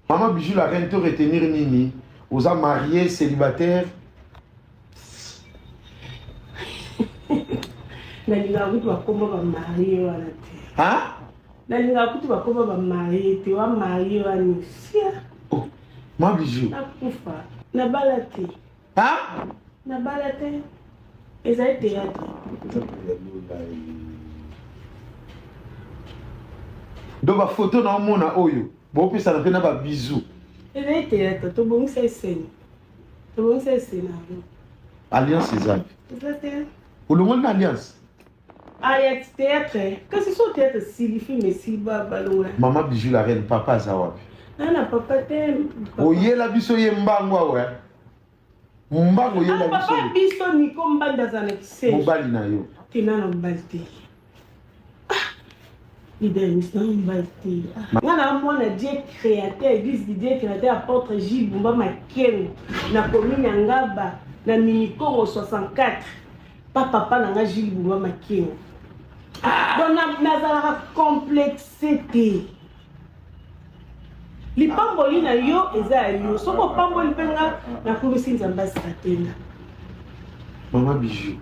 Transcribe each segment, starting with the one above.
Maman Bijou la reine to retenir nini oza marié célibataire nalingaka kutu bakoma bamarie wana te nalingaka kutu bakoma bamarie te wa marie wana sia oh, ma bijou nakufa nabala te Hein? Na bala te. Ezali théâtre. Donc ba photo na omona oyo, bopesa na pe na ba bisous. Ezali théâtre, to bongisa eseni. To bongisa eseni. Alliance ezali. Ezali te. Olongoli na alliance. Ayat theatre kasi so theatre sili film esili balongola mama bijou la reine papa aza wapi na na papa te oyela biso ye mbangu awa mbangu oyela ah, biso papa biso niko mbanda aza na kise mobali na yo te na na mobali te ah, Idaïs, na mobali te ah. nga na mwana dieu créateur église de dieu créateur apôtre j bumba makengo na commune ya ngaba na minikongo 64 pa papa na nga gile bulwa makeo don nazalaka complexe te lipamboli na yo eza ya yo soki opamboli mpe nga nakumisi nzambe asika te nga mama bijou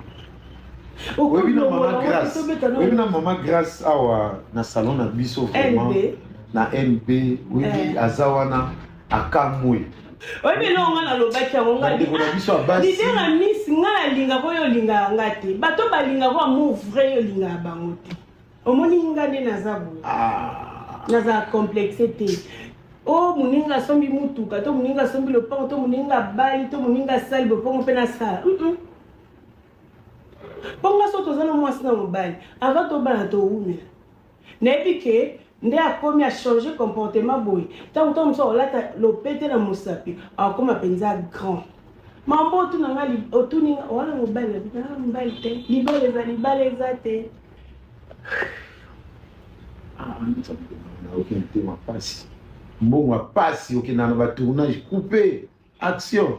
oyebi na mama grace oyebi na mama grace awa na salon na biso vraiment na mp oyebi eh. aza wana akamwe oyebi eloko ngai nalobaki yango ngailidere ya miss ngai alingaka oyo olingaka nga te bato balingaka amour vrai oyo olingaka bango te omoni nga nde naza boye ah. naza complexe te o oh, moninga asombi motuka to moninga asombi lopango to moninga abali to moninga asali bopango mpe nasala mpo nga so toza na mwasi na mobali ava tobala towumela nayebi ke nde akomi achange comportement boye ntango ntango mosusu akolata lopete na mosapi akokoma mpenza grand mambo otuna nga otuni nga wana mobali ah, mobali te libala eza libala eza te ah, nayoki motema mpasi mbongo ya mpasi okendana batournage coupe action